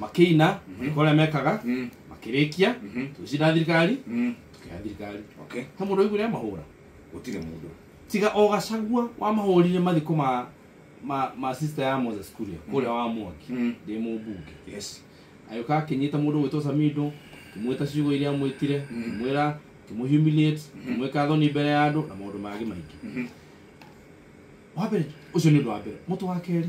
makĩina kũrĩa ũrĩa mekaga Mm. makĩrĩkia Mhm. tũgĩcira thirikari Mm. tũkĩoya thirikari Okay. he mũndũ waiguire mahũra Gũtirĩ mũndũ. tiga o gacagua wamahũrire mathiko ma ma, ma sister ya moses kuria kũrĩa wa mwaki Mm. ndĩ mũmbunge Yes. agĩũka akĩnyita mũndũ gwĩtwo samindo kĩmwĩta ciugo iria mwĩtire Mhm. kĩmwĩra kĩmũhumiliate kĩmwĩka thoni mbere ya andũ na maũndũ mangĩ maingĩ Mhm. wa mbere ũcio nĩ ũndũ wa mbere mũtũ wa kerĩ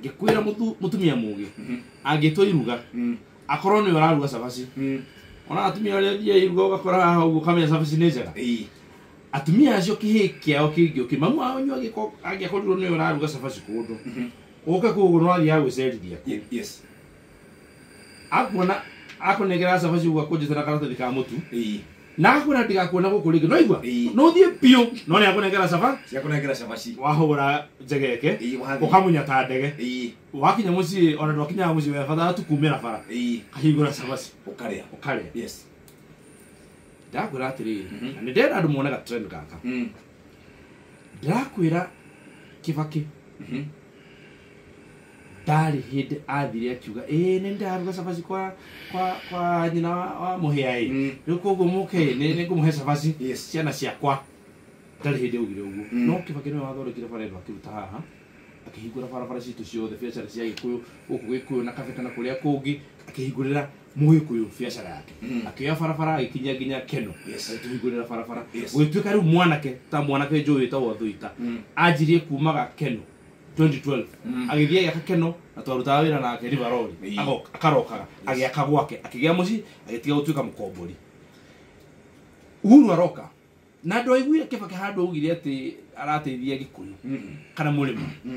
ngikwira mutu mutumia mugi angitwa iruga Mm. akorwo ni araruga cabaci Mm. ona atumia aria thia iruga ugakora haha uguo kamenya cabaci ni njega Ii. atumia acio kihi kiao kingi uki mamu wao nyu angiakorirwo ni araruga cabaci kundu uke kuguo no athia gwicerithia ku Ye- yes akuona akunengera cabaci uguo akunjite na karatathi ka mutu Ii. na agakwira ndigakuona guku ringi no igua Ii. no uthie biu no ni akunengera caba Ciakunengera cabaci. wahura njegeke Ii, wathi. ukamunya ta ndege Ii. wakinya mucii ona ndwakinyaga mucii webatha tu kumira bara Ii. kahingura cabaci Ukarĩa. ukarĩa Yes. ndakwira atiriri Mhm. na nä ndenda andå mone gatrend gaka Mm. ndakwä ra kä bakä Mhm. ndarĩ hĩndĩ athire akiuga ĩĩ nĩ ndaruga cabaci kwa kwa kwa nyina wa, wa mũhĩa ĩ Mm. rĩu koguo mũke ĩ nĩ nĩ ngũmũhe cabaci Yes. ciana ciakwa ndarĩ hĩndĩ augire ũguo Mm. no kĩbakĩ nĩwe wathondekire bara ĩno akĩruta haha akĩhingũra barabara citũ ciothe biacara cia gĩkũyũ gũkũ gĩkũyũ na kabeta na kũrĩa kũngĩ akĩhingũrĩra mũgĩkũyũ biacara yake Mm. akĩoya barabara agĩkinyia nginya keno Yes. agĩtũhingũrĩra barabara Yes. gũgĩtuĩka rĩu mwanake ta mwanake njũĩ wĩtagwo thũita Mm. anjirie kumaga keno 2012 agĩthiĩ agĩaka keno na twarutaga wĩra nake rivarori Ĩĩ. agoka akarokaga agĩaka gwake akĩgĩa mũciĩ agĩtiga gũtuĩka mũkombori uhuru aroka na andũ aiguire kĩbake handũ augire atĩ arateithia gĩkũyũ kana mũrĩmo